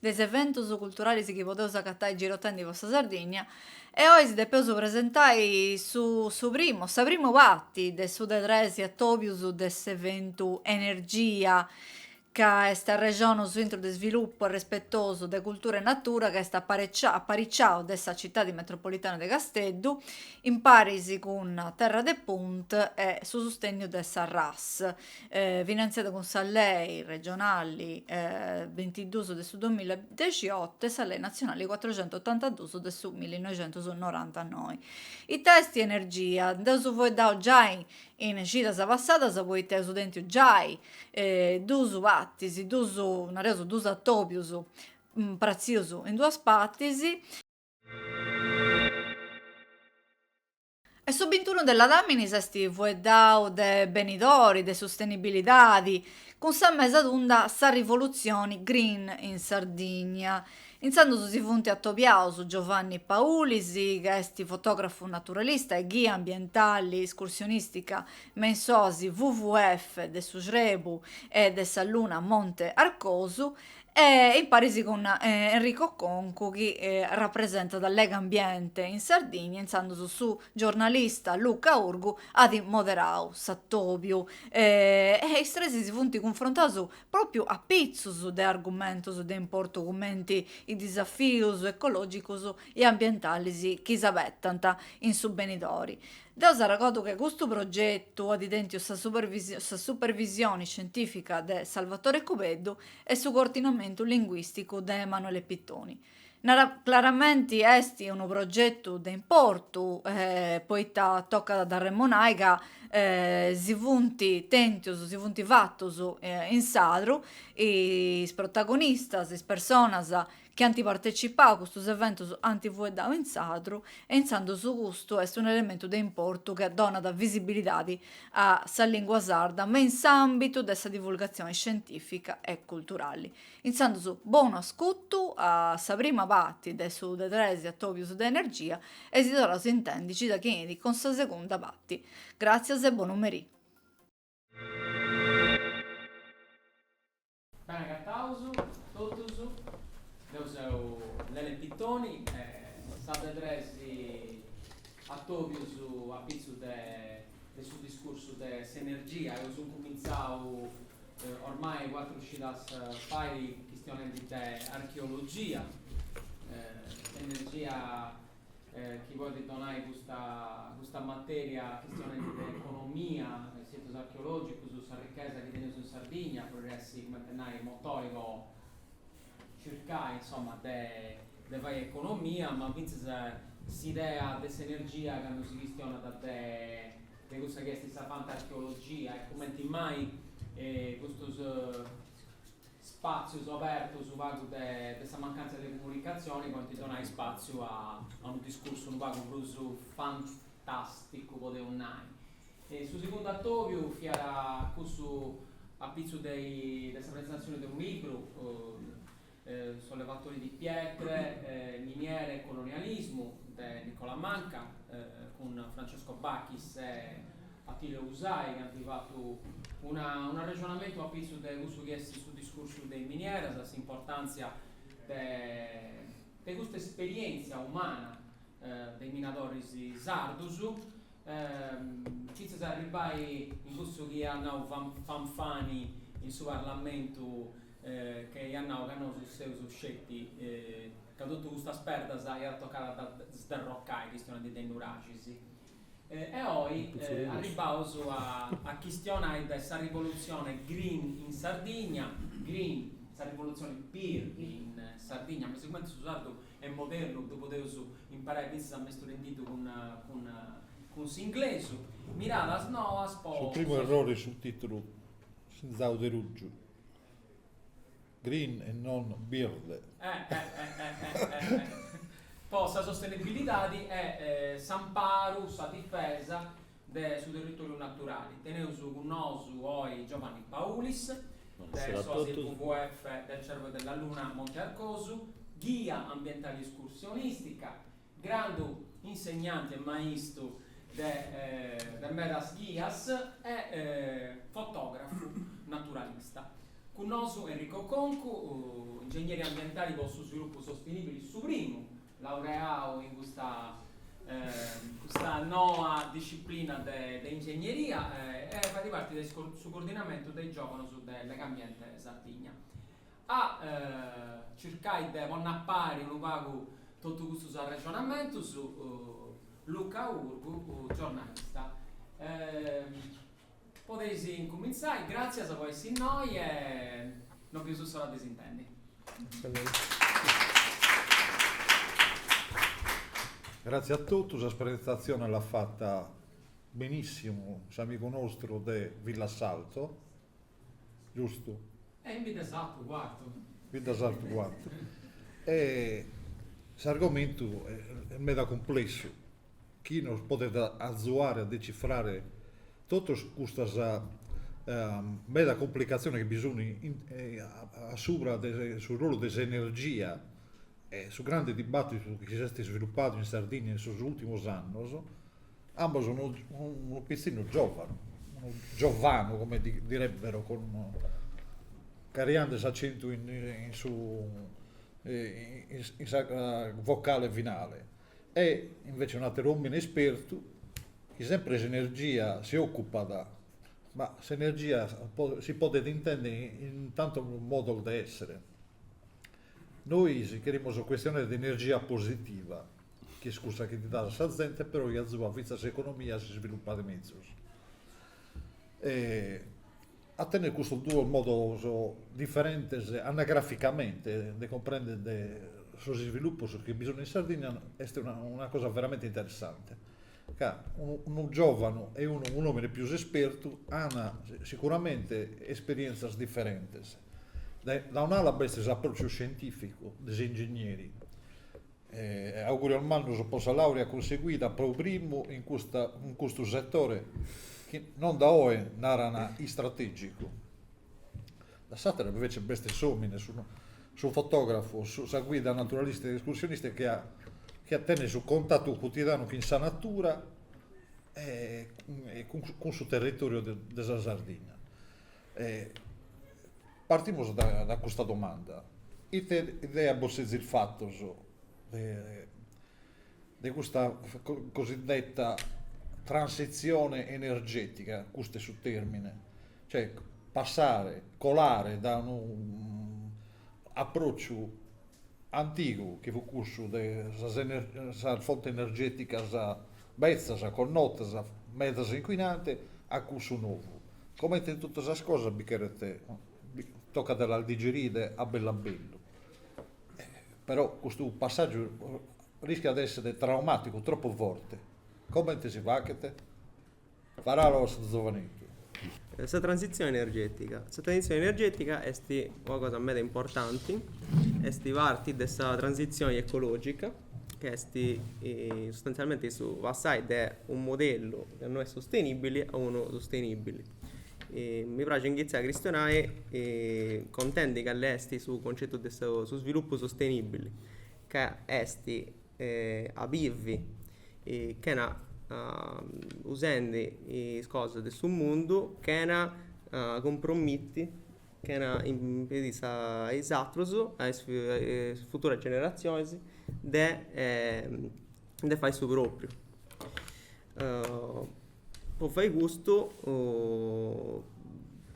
de s'eventus culturalis chi podeus acatai girotendi po sa Sardigna e oi si depeus presentai su su primu sa primu parti de su de tres atobius de s'eventu Energia ca est arrexonus a intru de svilupu arrespetosu de cultura e natura ca est apareciau apariciau de sa citadi metropolitana de Casteddu imparis cun Terra de Punt e su sustenniu de sa RAS finantziada cun sa Lei regionali bintiduus de su duamiladiexioto e sa Lei natzionali cuatrocientotantaduus de su millinoixentusnorantanoi. Ita est energia? Nd'eus fueddau giai in cidas passadas poita eus tentiu giai duus partis, duus, nareus duus atobius pratzius in duas partis, E su bintunu de Ladàmini s'est fueddau de benidori de sustenibilidadi cun sa mesa tunda Sa Rivoluzione Green in Sardigna. Intzandus si funt atobiaus Giovanni Paulis, ca est fotògrafu naturalista e ghia ambientali iscursionìstica me in s'oasi WWF de su Srebu e de sa Luna Monte Arcosu, E imparis cun Enrico Concu chi rapresentat Legambiente in Sardigna, intzandus su giornalista Luca Urgu at moderau s'atòbiu e is tres si funt cunfrontaus pròpriu a pitzus de argumentus de importu cumenti is disafius ecològicus e ambientalis chi s'abetant in su benidori. Deu s'arregordu chi custu progetu at tentiu sa supervisioni scientìfica de Salvatore Cubeddu e su coordinamentu linguisticu de Emanuele Pittoni. Claramenti est unu progetu de importu poita tocat a dd'arremonai ca si funt tèntius, si funt fatus in sadru is protagonistas, is personas chi ant partecipau a custus eventus ant fueddau in sadru e intzandus custu est unu elementu de importu chi donat visibilidadi a sa lingua sarda me in s'ambitu de sa divulgazioni scientifica e culturali. Intzandus bonu ascutu a sa prima pati de su de tres atobius de energia e si torraus a intendi cida chi intrat cun sa segunda pati. Gràtzias e bonu merì. Bene acataus totus, deu seu Lele Pittoni est sa de tres atobius apitzus de su discursu de s'energia. Eus incumintzau ormai cuatru cidas fai chistionendi de archeologia, energia chi podit donai custa custa matèria chistionendi de economia, de situs archeològicus, sa richesa chi teneus in Sardigna, podit essi, cumenti a nai, motori po circai, insoma, de de fai economia, ma fintzas s'idea de s'energia candu si chistionat de de cussa chi est sa fant'archeologia e cumenti mai custus spàtzios obertus unu pagu de de sa mancàntzia de comunicatzione podent donai spàtziu a a unu discursu unu pagu prus fantàsticu, podeus nai. Su segundu atòbiu fiat cussu apitzus de de sa presentatzione de unu libru, Sollevatori di pietre, miniere e colonialismo, de Nicola Manca, cun Francesco Bachis e Attilio Usai chi ant fatu unu arrexonamentu a pitzu de cussu chi est su discursu de is minieras, s'importàntzia de custa esperièntzia umana de is minadoris sardus, fintzas a arribbai a cussu chi iat nau Fanfani in su Parlamentu ca iat nau ca nosu seus sceti ca totu custas perdas iat tocai a ddas sderrocai, chistionendi de nuraxis E oi arribbaus a chistionai de sa rivolutzione green in Sardigna, green, sa rivolutzione birdi in Sardigna, ma sigumenti su sardu est modernu ddu podeus imperai fintzas a mesturendiddu cun s'inglesu. Miradas noas po. Su primu errori est su titulu pintzau de ruju. Green e non birde. po sa sostenibilidadi e s'amparu, sa difesa de su territoriu naturali. Teneus cun nosu oi Giovanni Paulis, de s'Oasi WWF del Cervo e della Luna Monte Arcosu, ghia ambientali e escursionistica, Grandu insegnanti e maistu de medas ghias e fotògrafu naturalista. Cun nosu Enrico Concu, ingegneri ambientali po su svilupu sostenìbili, su primu laureau in custa custa noa disciplina de ingegneria e fait parti de su coordinamentu de is giòvanos de Legambiente Sardigna. A circai de ponni a pari unu pagu totu custus arrexonamentus, Luca Urgu, giornalista. Podeis incumintzai, gràtzias po essi innoi e no bieus s'ora de s'intendi. Gratzias a totu, sas presentatziones l'at fata benissimu s'amigu nostru de Villassalto. Giustu? E in Biddesartu, Cuartu. Biddesartu, Cuartu. E s'argomentu est meda cumplessu, chi nos podet azuare a decifrare totus custas meda cumplicatziones chi bi sun a subra de su rolu de s'energia e su grande dibattitu chi s'est sviluppadu in Sardinnia in sos ultimos annos, Ambos unu unu pitzinnu giòvanu, unu giovanu come direbbero con carrighende s'accentu in in su in sa vocale finale e invece un'ateru omine ispertu chi sempre s'energia si occupat, ma s'energia si podet intendere in tantos modos de essere. Nois cherimus chistionare de energia positiva chi est cussa chi dat a sa zente, però chi azuat fintzas s'economia a s'isvilupare mezus. a tenner custus duos modos diferentes anagraficamente de cumprendere sos isvilupos chi bi sun in Sardinnia est una cosa veramente interessante, ca unu giovanu e un'omine pius ispertu an sicuramente esperienzias diferentes, dae un'ala b'est s'aprociu scientificu de s'ingegneri E augurios mannos po sa laurea cunseguida pro primu, in custa in custu setore chi no dae oe naran istrategicu. Dae s'attera invece b'est s'omine, su su fotografo, sa guida naturalista e escursionista chi at chi at tentu su contattu cutidanu chin sa natura e cun su territoriu de sa Sardinna. Partimus dae custa domanda, ite idea bos sezis fatos de custa cosiddetta transitzione energetica, custu est su termine, cioè passare, colare dae unu approcciu antigu chi fut cussu de sas fontes energeticas Betzas, connotas, medas inquinante a cussu novu. Comente in totu sas cosas bi cheret, bi tocat de las digerire a bellu a bellu. Però custu passàgiu rischiat de èssere traumàticu, tropu forte. Comente si faghet? Paràula po su giovaneddu. Sa transitzione energètica. Sa transitzione energètica est una cosa meda importanti, est parti de sa transitzione ecològica, chi est sustantzalmenti su passai de unu modellu chi no est sustenìbili a unu sustenìbili. Mi praxit inghitzai a chistionai contendi cali est su concetu de su svilupu sustenìbili ca est a bivi chena usendi is cosas de su mundu chena cumpromiti chena impedì sa a is atrus a is futuras generazionis de de fai su propriu Po fai custu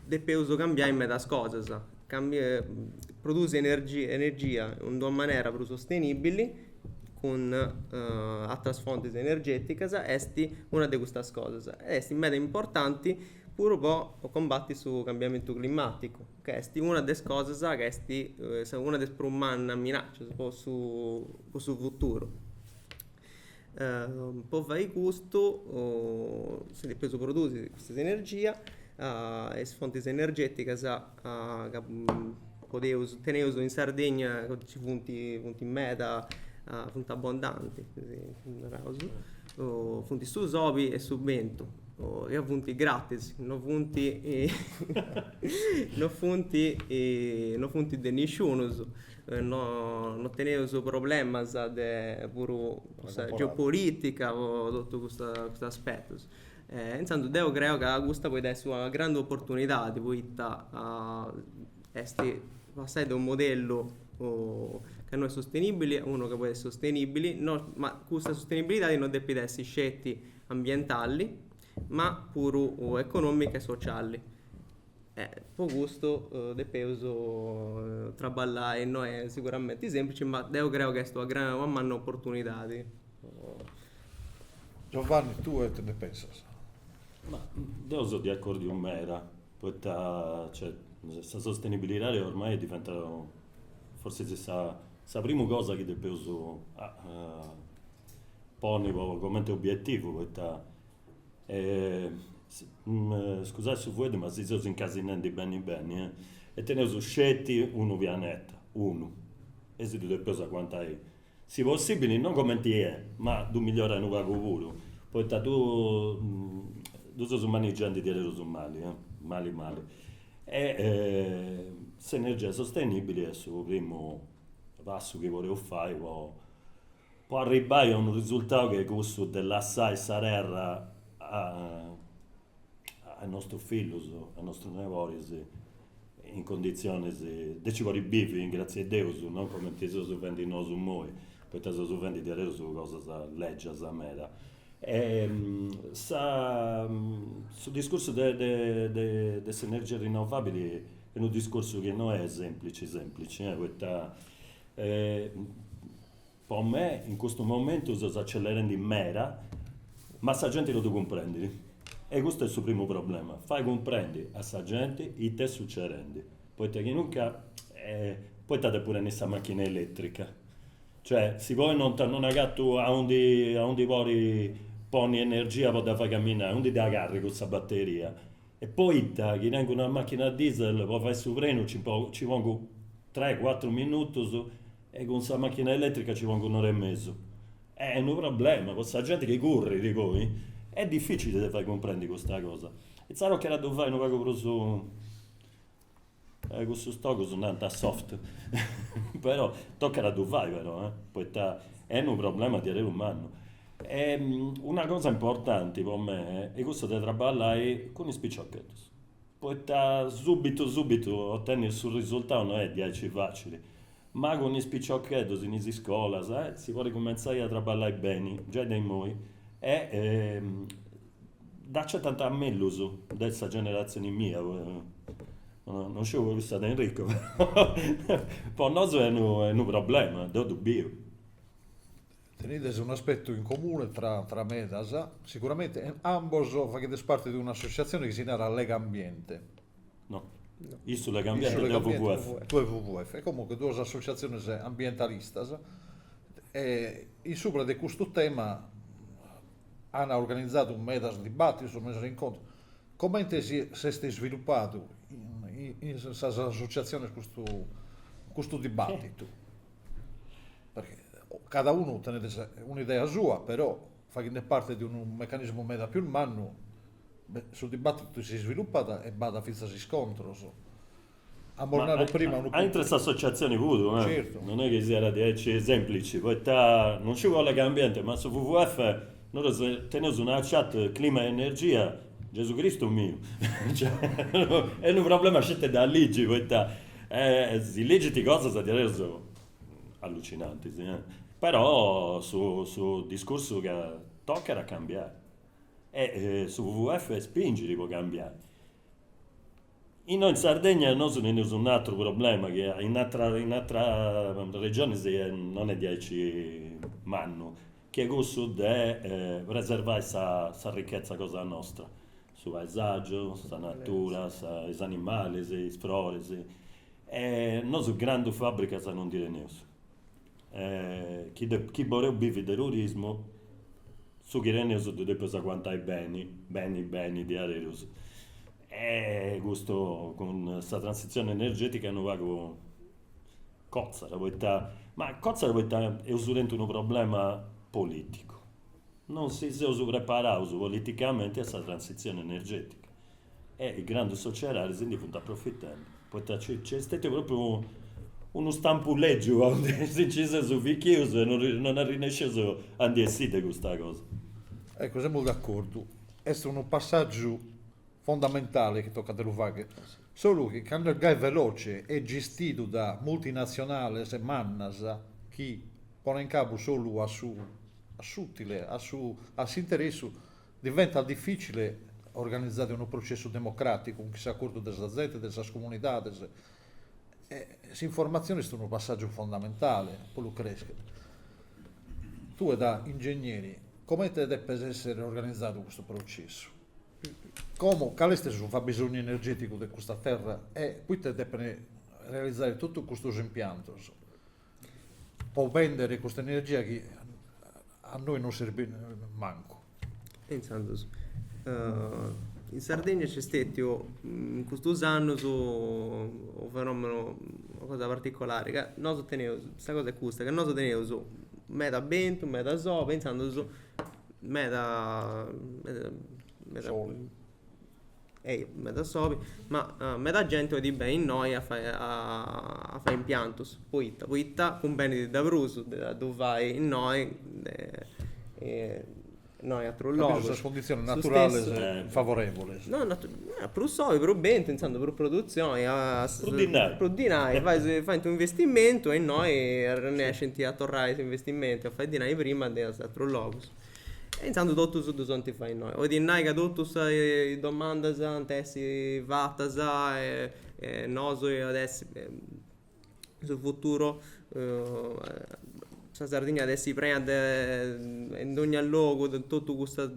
depeus cambiai medas cosas, produsi energia in d'una manera prus sostenibili cun atras fontis energeticas est una de custas cosas e est meda importanti puru po combati su cambiamentu climaticu ca est una de is cosas ca est una de is prus mannas minaccias po su futuru Po fai custu si depeus produsi custa s'energia, is fontis energeticas ca podeus, teneus in Sardegna, nci funt, funt meda, funt abondanti, naraus, funt su soli e su bentu, ca funt gratis, non funt non funt non funt de nisciunus No teneus problemas de puru custa geopolitica po totu custus aspetus. Intzandus deu creu ca custa podit essi una grandi oportunidadi poita est passai de unu modellu ca no est sostenibili a unu ca podit essi sostenibili, ma custa sostenibilidadi no depit essi sceti ambientali, ma puru economica e sociali. E po custu depeus traballai, no est siguramenti sèmplici, ma deu creu chi est una grandi una manna oportunidadi. Giovanni, tue ite ndi pensas? Ma deu seu de acordiu meda, poita cioè sa sostenibilidadi ormai est diventada forsis est sa primu cosa chi depeus ponni po coment'obietivu, poita scusai su fueddu ma si seus incasinendi beni beni e teneus sceti unu pianeta unu e si ddu depeus aguantai si possibili non comenti est ma ddu migliorai unu pagu puru poita ddu ddu seus manigiandi diaderus mali mali mali e s'energia sostenibili est su primu passu chi podeus fai po po arribbai a unu risultau chi est cussu de lassai sa terra a a nostus fillus, a nostus neboris in conditzionis de nci podi bivi in gratzi'e deus, non comenti seus fendi nosu imoi, poita seus fendi diaderus cosas lègias meda. Sa su discursu de de de s'energia rinnovabili est unu discursu chi no est semplici semplici, poita Po me in custu momentu seus accelerendi meda ma sa genti ddu depit cumprendi e custu est su primu problema, fai cumprendi a sa genti ita est sucedendi, poita chi nunca poita depu tenni sa machina elettrica, cioè si poi non agatu aundi podi ponni s' energia po dda fai camminai, aundi dda carrigu sa batteria, E poita chi tengu una machina a diesel po fai su prenu ci pongu tres cuatru minutus e cun sa machina eletrica ci pongu un'ora e mesu. Est unu problema po sa genti chi currit poi. Est dificili de fai cumprendi custa cosa. Insaras tocat a ddu fai unu pagu prus Eh cumenti si ddi nant soft però tocat a ddu fai però eh poita est unu problema diaderus mannu. E una cosa importanti po me est cussu de traballai cun is piciocheddus poita subitu subitu otenni su risultau no est diaici facili Ma cun is piciocheddus in is iscolas si podit cumentzai a traballai beni giai de imoi e dd'acetant mellus de sa generatzioni mia, no sciu po cussa de Enrico, po nosu est unu problema, deu ddu biu. Tenides unu aspetu in comune tra medas, siguramenti ambos faghidis parti de un'associatzioni chi si narat Legambiente. No. no. Issu Legambiente, deu WWF. Tue WWF. E comunque duas associaziones ambientalistas e in subra de custu tema an organizadu medas dibattidos, medas incontros. Comente s'est isviluppadu in sas associaziones custu custu dibattitu? Perché cada unu tenet un'idea sua però faghende parte de unu mecanismu meda pius mannu, su dibàtitu si isvilupat e b'at fintzas iscontros. Amus nadu prima. Aintru 'e s'associatzioni puru, non est chi siat diaici sèmplici, poita non sciu Legambiente, ma su WWF, nosu teneus una chat Clima e Energia, Gesù Cristu miu, est unu problema sceti de ligi, poita si ligint cosas diaderus Allucinanti, si. Però su su discursu ca tocat a cambiai e su WWF spingit po cambiai. Innoi in Sardegna nosu teneus un atru problema chi in atras in atras regionis non est diaici mannu, chi est cussu de preservai sa sa ricchezza cosa nostra, su paesaggiu, sa natura, is animalis, is froris E nosu grandu fàbricas no ndi teneus. E chi chi boreus bivi de turismu, su chi teneus ddu depeus aguantai beni, beni beni diaderus. E custu cun sa transitzioni energetica unu pagu cotzat poita, ma cotzat poita eus tentu unu problema politicu. Non si seus preparaus politicamenti a sa transitzioni energetica. e is grandus sociedadis si ndi funt aprofitendi, poita nc'est stetiu propriu unu stampu lègiu e si nci seus fichius e non arrinnescius a ndi essì de custa cosa. Eccu, semus d'acordu, est unu passàgiu fondamentali chi tocat de ddu faghi, solu chi candu est gai veloci e gistidu da multinatzionales mannas chi ponent cabu solu a su a s'ùtile, a su a s'interessu Diventat difìcile organizare unu processu democràticu cun chi s'acordu de sa zente, de sas comunidades. S'informatzione est unu passàgiu fondamentale po lu crescher. Tue da ingegneri comente depet èssere organizadu custu processu? Como, cale est su fabisonnu energèticu de custa terra e poite depene realizare totu custos impiantos? po bèndere custa energia chi a nois non serbit mancu. E intzandus in Sardigna nc'est stètiu in custus annus unu fenomenu, una cosa particolari, ca nosu teneus, sa cosa est custa, ca nosu teneus meda bentu, meda sobi e intzandus meda meda meda Ehi, meda sobi, ma meda gente oit beni innoi a fai, a fai impiantus, poita, poita cumbenit de prus de ddu fai innoi de no in atrus logus. Ca sas conditzionis naturales est favorevulis. No, prus sobi, prus bentu, intzandus prus produtzioni. Prus dinai. Prus dinai, fais, faint un'investimentu e innoi arrennescint a torrai s'investimentu e a fai dinai prima de in atrus logus. E intzandus totus ddus oint fai innoi. Oit nai ca totus is domandas ant essi fatas e nosu at essi su futuru, sa Sardigna at essi prena de in dogna logu de totu custas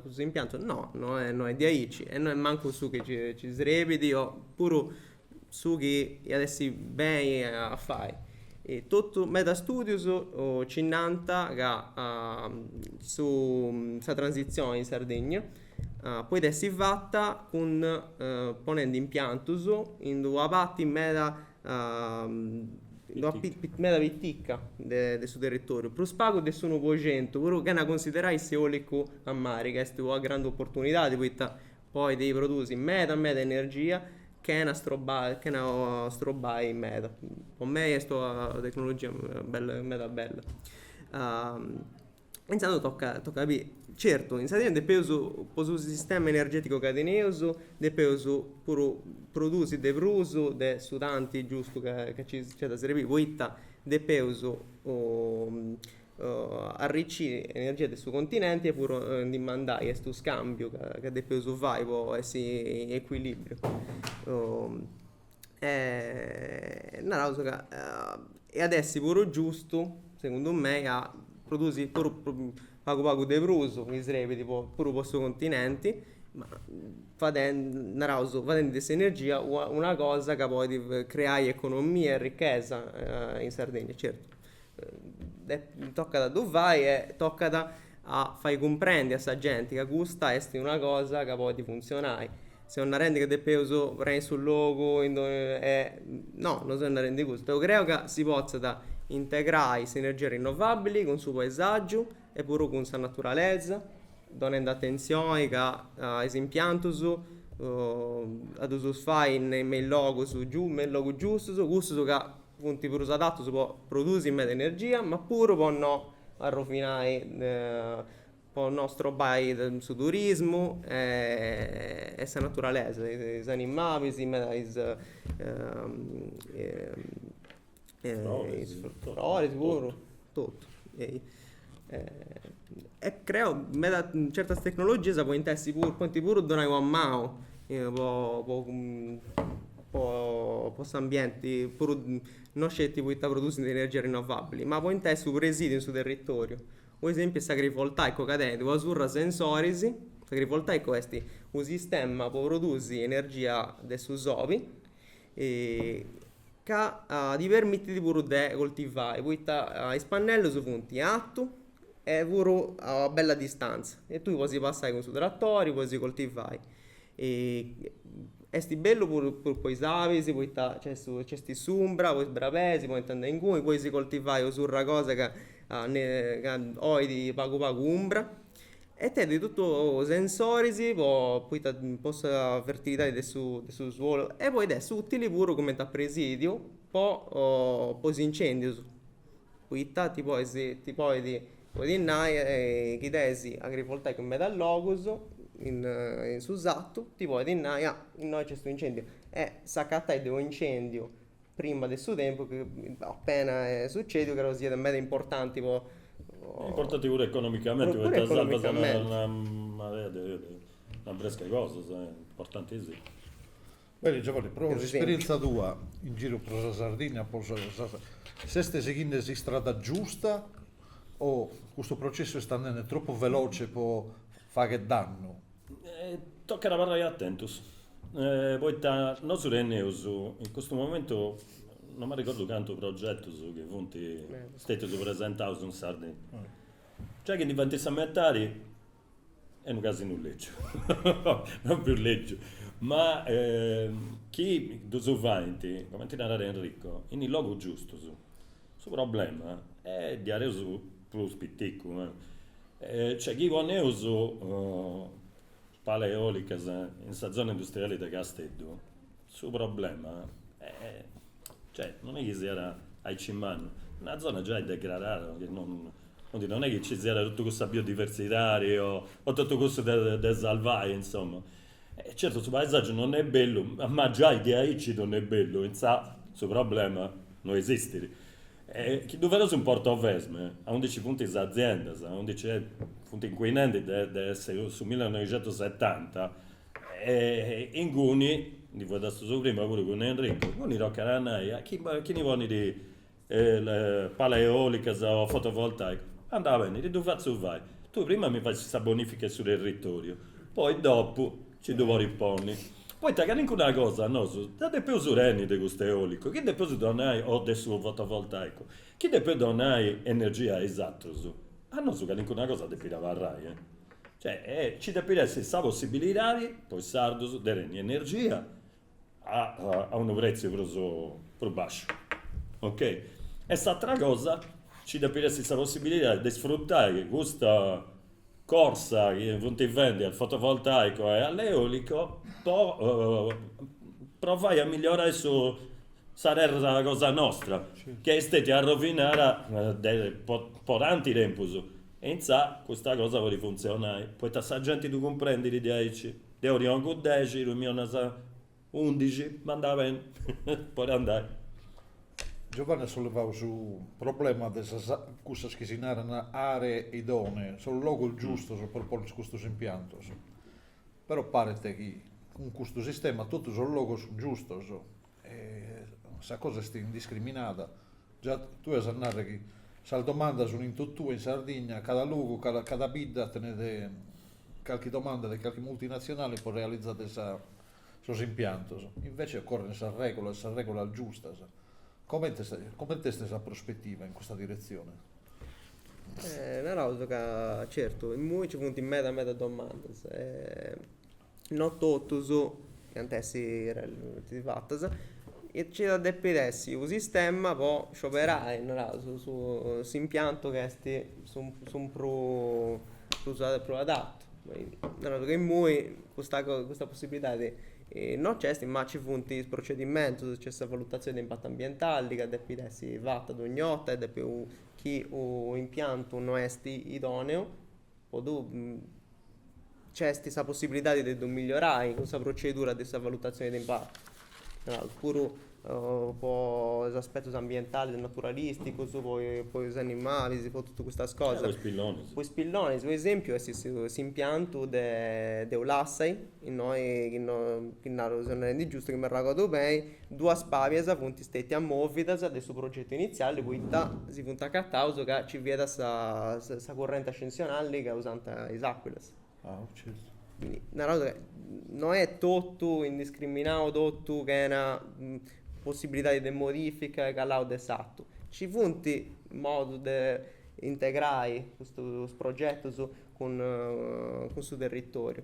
custus impiantus. No, no est diaici e no est mancu su chi nci srebit o puru su chi iat essi beni a fai totu meda studius ci nant ca su sa transitzioni in Sardegna podit essi fata cun ponendi impiantus in d'una parti meda meda piticca de su territoriu prus pagu de s'unu po centu puru chena considerai s'eolicu a mari ca est una grandu opportunidadi poita podit produsi meda meda energia chena strobai chena strobai meda po mei est una tecnologia bella meda bella e insaras tocat tocat a biri certu in Sardigna depeus po su sistema energeticu ca teneus depeus puru produsi de prus de su tanti giustu ca nc'at a serbiri poita depeus arriciri energia de su continenti e puru ndi mandai est u scambiu ca depeus fai po essi in equilibriu e naraus ca iat a essi puru giustu segundu mei a produsi puru pagu pagu de prus si serbit puru po su continenti ma naraus fadendi de s'energia una cosa ca podit creai economia e ricchesa in Sardegna certu tocat a ddu fai e tocat a fai cumprendi a sa genti ca custa est una cosa ca podit funtzionai. Seus narendi ca depeus prenni su logu in donnia e no, no seus narendi custu. Deu creu ca si potzat integrai s'energia rinnovabili cun su paesàgiu e puru cun sa naturalesa, donendi atentzioni ca is impiantus a ddus fai me is logus giustus, cussus ca Funt prus adatus po produsi meda energia, ma puru po no arrovinai, po no strobai su turismu e sa naturalesa, is animalis, e is is froris puru Totu, ei. E creo meda certas tecnologias podint essi puru, podint puru donai una manu po po s'ambienti, puru non sceti poita produsint energia rinnovabili, ma podint essi u' presidiu in su territoriu. Po esempiu est s'agrivoltaico ca tenit una surra 'e sensoris, s'agrivoltaico esti u' sistema po produsi energia de su soli ca ti permitit puru de coltivai poita is pannellus funt in atu e puru a una bella distantzia e tui podis passai cun su tratori podis coltivai est bellu puru po is abis poita nc'est s'umbra po is brabeis podint andai ingunis podis coltivai u' surra 'e cosa ca ca olit pagu pagu umbra E tenit totu sensoris po poita po sa fertilidadi de su de su suolu e podit essi ùtili puru cumenti a presìdiu po po is incèndius poita ti podis ti podit podis nai chi tenis agrivoltaicu in medas logus in in su sartu ti podit nai ah innoi nc'est u' incèndiu e s'acatai de u' incèndiu prima de su tempus chi a pensai a su cètiu ca ddoi siat meda importanti po Importanti puru economicamenti poita sarvas una marea de una brèscia 'e cosas importantìssimu. Beni Giovanni, pro s'esperienza tua in giru pro sa Sardigna s'est sighende s'istrada giusta o custu processu est andende tropu veloce e podet fagher dannu? Tocat a abarrai atentus, poita nosu teneus in custu momentu, non m'arregordu cantu progetus chi funt stetius presentaus in Sardinna, giai chi ndi faint sa metadi est unu casinu lègiu, non prus lègiu, ma chi ddus fant, cumenti narat Enrico, in is logus giustus. Su problema est diaderus prus piticu, cioè chi poneus palas eòlicas in sa zona industriali de Casteddu, su problema cioè non est chi siat aici mannu, una zona giai degradada, chi non est chi nci siat totu cussa biodiversidadi o totu cussu de sarvai, insoma, certu su paesaggiu non est bellu, ma giai diaici non est bellu, insaras su problema non esistit E chi ddu feus in Portovesme, aundi nci funt is aziendas, aundi nci funt incuinendi de su millenoixentusetanta, inguni, ndi fueddastus prima puru cun Enricu, inguni tocat a nai a chi chi ndi ponit palas eòlicas o fotovoltàicas, andat beni, ti ddu fatzu fai, tui prima mi facis sa bonifica 'e su territoriu, poi dopu Ci ddu podis ponni. Poita calincuna cosa nosu dda depeus tenni de custu eolicu, chi depeus donai, o de su fotovoltaicu, chi depeus donai energia a is atrus, a nosu calincuna cosa depit abarrai. Cioè, ci depit essi sa possibilidadi po is sardus de tenni energia a a unu pretziu prus prus basciu, ok. E s'atera cosa, nci depit essi sa possibilidadi de sfrutai custa corsa chi funt fendi a fotovoltaico e all'eolico po provai a migliorai su sa terra cosa nostra, chi est stètia arrovinada de po po tanti tempus e intzaras custa cosa podit funtzionai, poita sa genti ddu cumprendit diaici De orologiu dexi, su miu narat undixi, ma andat beni, podit andai. Giovanni at sollevau su problema de sas cussas chi si naran aree idonee, sos logos giustos pro ponner custos impiantos. Però paret chi cun custu sistema totu sos logos giustos Sa cosa est indiscriminada. Già tue as a narrere chi sa domanda sunt in totue in Sardigna, cada logu, cada bidda tenet calchi domanda de calchi multinazionale pro realizare sos impiantos. Invece occorrent sas regulas, sas regulas giustas. Comente comente est sa prospetiva in custa diretzione? Naraus ca certu immoi nci funt meda meda domandas e No totus ant a essi fatas. Nci at depi essi u' sistema po scioberai, naraus, s'impiantu chi est su prus prus adattu. Naraus ca imui custa cosa custa possibbilidadi no nc'est, ma nci funt is procedimentus, nc'est sa valutazioni de impattu ambientali ca depi essi fata dogni 'orta e depi chi u' impiantu no est idoneu Però nc'est sa possibilidadi de ddu migliorai cun sa procedura de sa valutatzioni de impatu, naus, puru po is aspetus ambientalis, naturalisticus, po is animalis, po totu custas cosas. Po is pillonis. Po is pillonis, po esempiu, s'impiantu de de Ulassai, Innoi chi no, chi nau giustu, chi m'arragodu beni, duas pàlias funt stètias mòvidas de su progetu initziali poita si funt acataus ca nci fiat sa sa currenti ascensionali ca usant is àcuilas. Naraus ca no est totu indiscriminau, totu chena possibilidadi de modifica e calau de s'atu. Nci funt modus de integrai custus progetus cun cun su territòriu.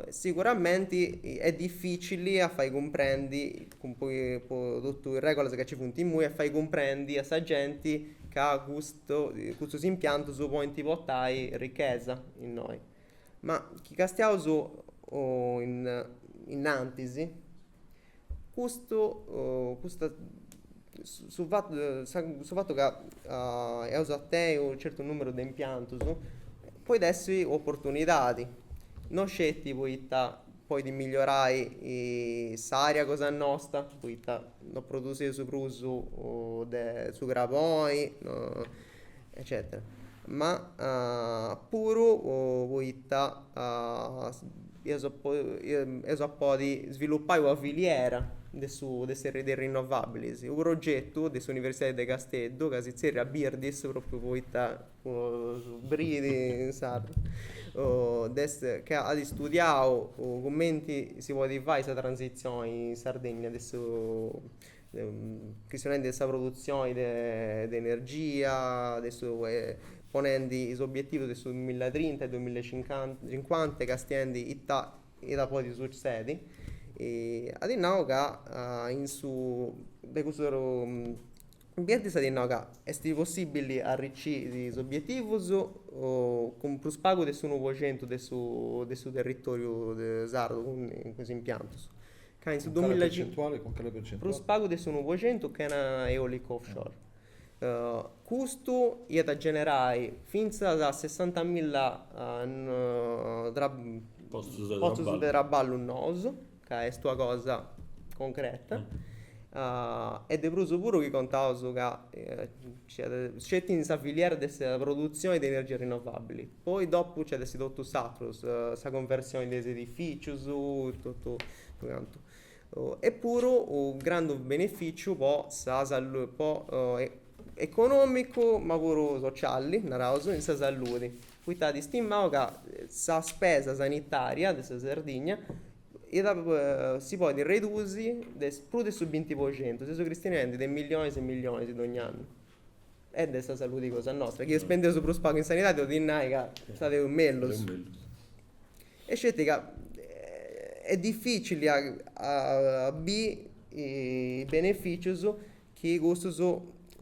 Siguramenti est dificili a fai cumprendi po totu is regulas ca ci funt imui a fai cumprendi a sa genti ca custu custus impiantus podint portai ricchesa innoi. Ma chi castiaus innantis Custu custa su fatu de sa su fatu ca eus a tenni unu certu numeru de impiantus podit essi u' opportunidadi no sceti poita podit migliorai s'aria cosa nosta poita no produsius prus de su craboni eccetera ma puru poita eus eus a podi svilupai una filiera de su de is rinnovabilis u progetu de s'universidadi de Casteddu ca si zerriat Birdis propriu poita bridi in sardu est ca at istudiau cumenti si podit fai sa transizioni in Sardegna de su chistionendi de sa produtzioni de de energia, de su ponendi is obbietivus de su duamilla e trinta e duamilla e cincuanta e castiendi ita ita podit sutzedi. At nau ca in su de cussus ambientis at nau ca est possibili arriciri is obbietivus cun prus pagu de s'unu po centu de su de su territoriu sardu cun is impiantus. Ca in su duamilla e cincu prus pagu de s'unu po centu chena eolicu offshore. Custu iat a generai fintzas a sessantamilla postus de traballu nous, ca est una cosa concreta, e de prus puru chi contaus ca sceti in sa filiera de sa produtzioni de energia rinnovabili, Poi dopu nci at essi totu s'atrus, sa conversioni de is edificius, totu cantu. E puru u grandu beneficiu po sa, po economicu ma puru socialli, naraus, in sa salludi, poita at istimau ca sa spesa sanitaria de sa Sardigna iat si podit redusi de prus de su binti po centu, seus cristionendi de millionis e millionis dogni annu. E de sa saludi cosa nostra, chi spendeus prus pagu in sanidadi, 'olit nai ca fadeus mellus. E sceti ca est dificili a a biri is beneficius chi custus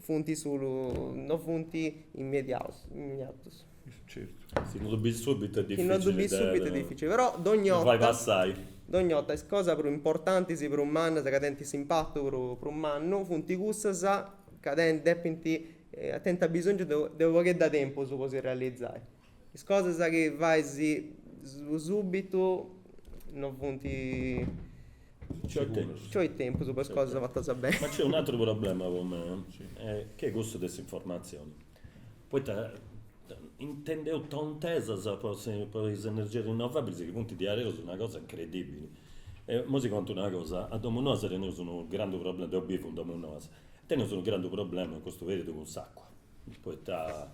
funt solu, no funt immediaus, immediatus. Si no ddu bis subitu est dificili de. Si no ddu bis subitu est dificili, però dogni 'orta. Fai passai. Dogni 'orta is cosas prus importantis, prus mannas, ca tenint s'impatu prus mannu, funt cussas ca depint tenint bisòngiu de unu pagheddu 'e tempus po si realizai. Is cosas chi fais subitu no funt. Nci 'olit tempus po is cosas fatas beni. Ma nc'est un'atru problema po mei, chi est cussu de s'informatzioni. Poita intendeus tontesas po is energias rinnovabilis chi funt diaderus una cosa incredibili. Imoi si contu una cosa, a Domunoas teneus unu grandu problema, deu bivu in Domunoas, teneus unu grandu problema in custu periudu cun s'acua, poita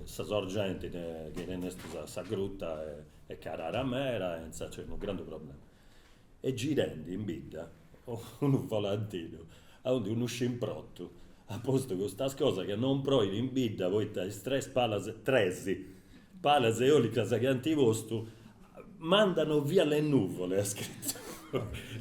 sa sorgenti chi tenestus a sa gruta est carara meda e insaras nc'est unu grandu problema. est girendi in bidda unu volantinu aundi unu scimprotu at postu custas cosas ca non proit in bidda poita is tres palas, tres, palas eolicas chi ant postu mandano via le nuvole at scritu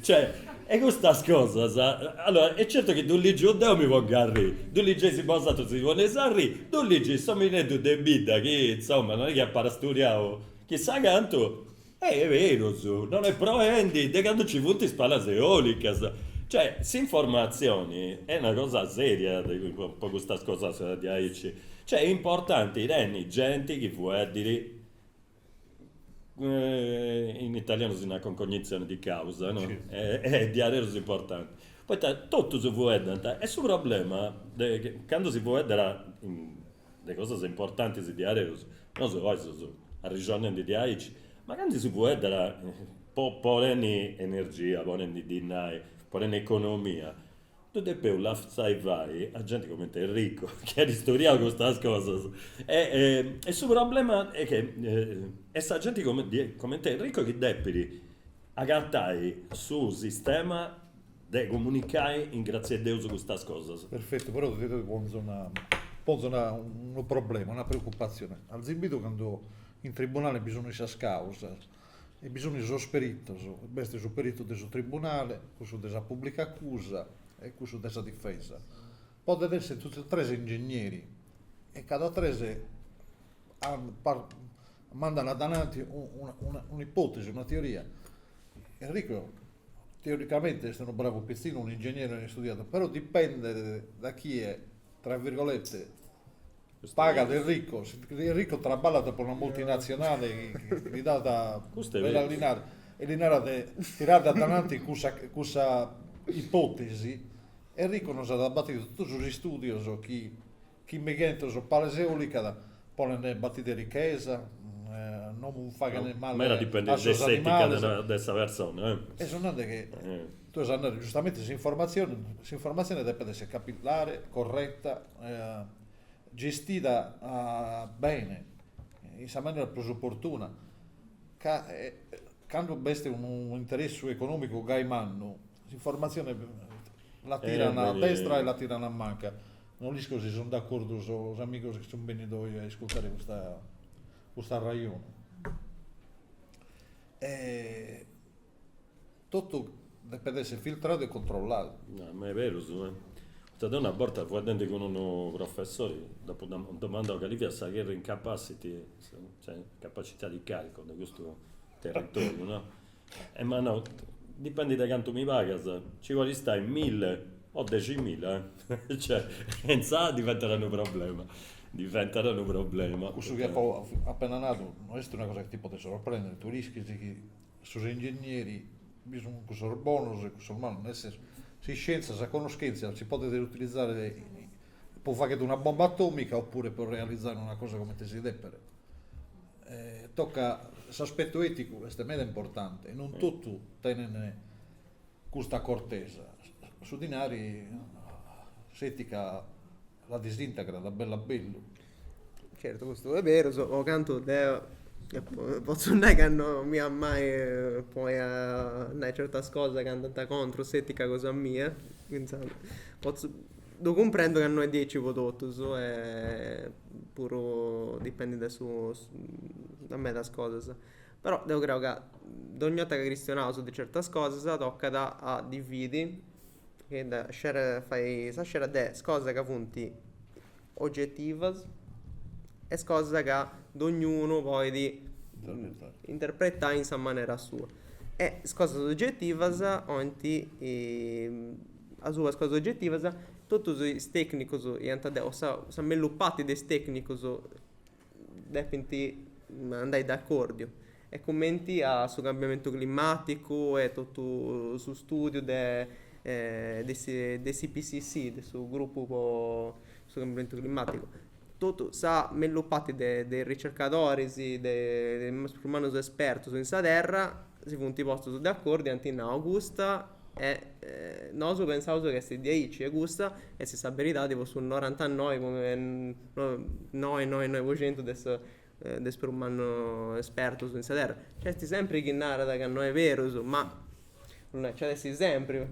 cioè e custas cosas allora e certu chi ddu ligiu deu mi pongu a arrì ddu ligeis bosatrus si poneis a arrì ddu ligit s'omineddu de bidda chi insoma non est chi apat studiau chissà cantu Est berus, non est proendi de candu nci funt is palas eòlicas. Cioè, s'informatzioni est una cosa sèria po custas cosas diaici. Cioè, est importanti tenni genti chi fueddit, in italianu si nat con cognizione di causa, no, est diaderus importanti, poita totus fueddant e su problema est candu si fueddat de cosas importantis diaderus, nosu oi seus arrixonendi diaici, ma candu si fueddat ponendi energia, ponendi dinai, ponendi economia, ddu depeus lassai fai a genti cumenti Enrico, chi at studiau custas cosas e su problema est chi est sa genti cumenti Enrico chi depit agatai su sistema de comunicai in grazia 'e Deus custas cosas. Perfettu, però ti ponzo unu problema, una preoccupazzione, azis bidu cando in tribunale bi sun sas causas e bi sun sos perittos, b'est su perittu de su tribunale, cussu de sa pubblica accusa e cussu de sa difesa, podent esser totu e tres ingegneri e cada tres Mandan adananti un'ipòtesi, una teoria. Enrico teoricamente est unu bravu pitzinu, unu ingegnere istudiadu, però dipendet da chie, tra virgolette, pagat Enrico, si Enrico traballat pro una multinatzionale chi li dat bellu dinari e li narat de tirare adananti cussa cussa ipòtesi, Enrico nos at a batire totu sos istùdios chi Chi migentas pales eòlicas podent batire richesa, no faghen male a sos animales. E su chi tue ses nande giustamente s'informatzione, s'informatzione depet esser capillare, corretta, gestida bene, in sa manera prus opportuna, ca cando b'est unu interessu econòmicu gai mannu, s'informatzione la tiran a destra e la tiran a manca Non isco si sunt d'accordu sos amigos chi sunt bennidos oi a iscurtare custa custa arrejonu. E totu depet esser filtradu e controlladu. No, ma est beru cussu. Poita deo una borta faeddende cun unu professori dd'apo domandadu cali fiat sa carrying capacity, cioè capacità di carico de custu territoriu no, E m'at nau, dipendit de cantu mi pagas, ci podis istai milli o deximilla, cioè, e insaras diventat unu problema, diventat unu problema. Cussu chi apu apena nadu no est una cosa chi ti podet sorprendiri, tui l'ischis chi sos ingegneris bi sun cussos bonos e cussos malos, nel senso, s'iscientzia, sa conoschentzia si podet utilizare po faghere una bomba atomica oppure po realizare una cosa comente si depet Tocat s'aspetu eticu est meda importante, non totu tenent custa acortesa, su dinari s'etica la disintegrat a bellu a bellu. Certu custu est berus, po cantu deo potzu nai ca no mi at mai poi a nai certas cosas chi andant contrus s'etica cosa mia, finzas potzu Ddu cumprendo ca no est diaici po totus e puru dipendit de su de medas cosas però deu creu ca dogni 'orta ca chistionaus de certas cosas tocat a dividi e de scerer a fai sa scera de is cosas ca funt ogetivas e is cosas ca dognunu podit interpretai in sa manera sua e is cosas ogetivas 'olint Asuba is cosas ogetivas, totus is tecnicos iant de, o sa mellus parti de is tecnicos depint andai d'accordiu e cumenti a su cambiamentu climaticu e totu su studiu de de s'IPCC, de su gruppu po su cambiamentu climaticu. Totu sa mellus parti de is ricercadoris, de is prus mannus espertus in sa terra, si funt postus de acordu e ant nau custa e nosu pensaus chi est diaici e custa est sa beridadi po su norantanoi comma noi noi noi po centu de su de is prus mannus espertus in sa terra. Nc'est sempri chi narat ca no est berus ma non est, nc'at essi sempri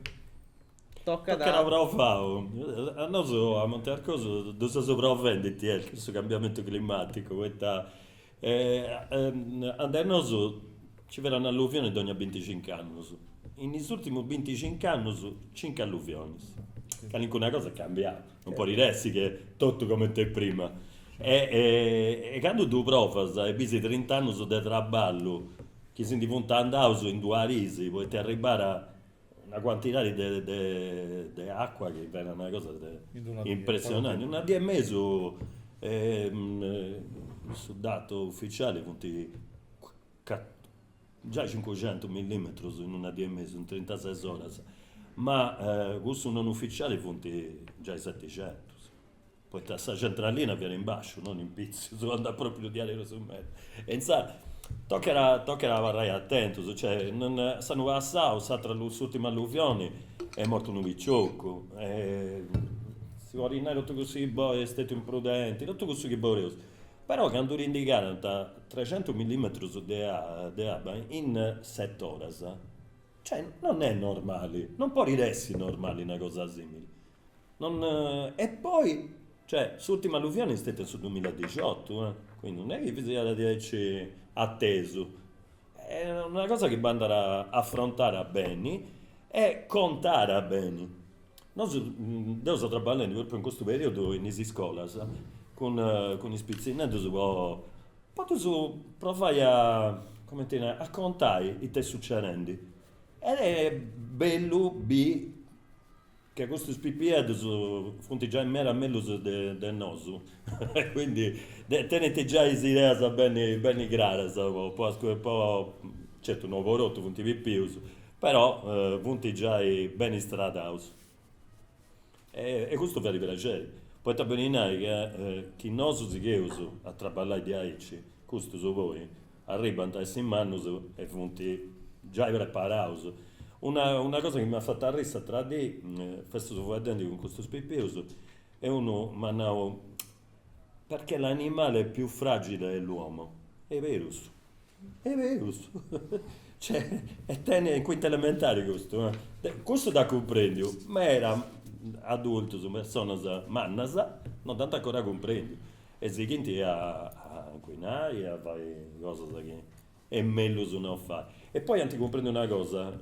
Tocat a provau. A nosu a Monte Arcosu ddu seus provendi ita est cussu cambiamentu climaticu poita ande nosu ci fiat un'alluvioni dogna binticincu annus. In is urtimus binticincu annus cincu alluvionis. Calincuna cosa est cambiau, non podit essi chi totu cumenti e prima. E candu ddu provas e bisi trint'annus de traballu chi si ndi funt andaus in duas dis poita est arribada Una cuantidadi de acua chi fiat una cosa impressionanti, in una dì e mesu su datu uficiali funt giai cincuxentus millimetrus in una dì e mesu, in trintases oras, ma cussu non uficiali funt giai setixentus Poita sa centralina fiat in basciu, non in pitzius, anda at pròpiu diaderus meda. E intzàs tocat tocat a abarrai atentus, cioè s'annu passau s'atra s'ùrtima alluvioni est mortu unu picioccu, si podit nai totu cussu chi boi est stetiu imprudenti, totu cussu chi boreus, però candu ti ndi calant trecentus millimetrus de de abba in set'oras, cioè non est normali, non podit essi normali una cosa simili Non e poi, cioè, s'ultima alluvioni est steta in su dusmiladexiotu, eh, quindi non est chi siat diaici atesu. Est una cosa chi bandat afrontada beni e contada beni. Nosu, deu seu traballendi propriu in custu periudu in is iscolas cun cun is pitzinneddus po po ddus provai a, cumenti nai, a contai ita est sucedendi. Ed est bellu biri Che custus pipiedus funt giai meda mellus de nosu e quindi tenint giai is ideas beni craras po, certu no po totu, funt pipius, però funt giai beni istradaus e custu fait praxeri, poita beni nai chi nosu sigheus a traballai diaici, custus poi Arribant a essi mannus e funt giai preparaus. Una una cosa chi m'at fatu arrii s'atera dì, festus fueddendi cun custus pipius e unu m'at nau, perchè l'animale più fragile è l'uomo. Est berus, est berus. Cioè, est tenni, in quinta elementari custu, eh. Custu dd'at cumprendiu, meda adultus, personas mannas, non dd'ant ancora cumprendiu. E sighint a incuinai e a fai cosas chi est mellus no fai. E poi ant cumprendiu una cosa,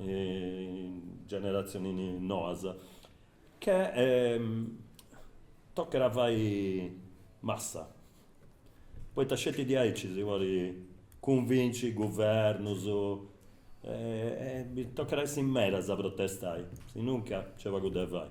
generatzionis noas, che tocat a fai massa, poita sceti diaici si podit cunvinci guvernus, tocat a essi medas a protestai, sinunca nc'est pagu de fai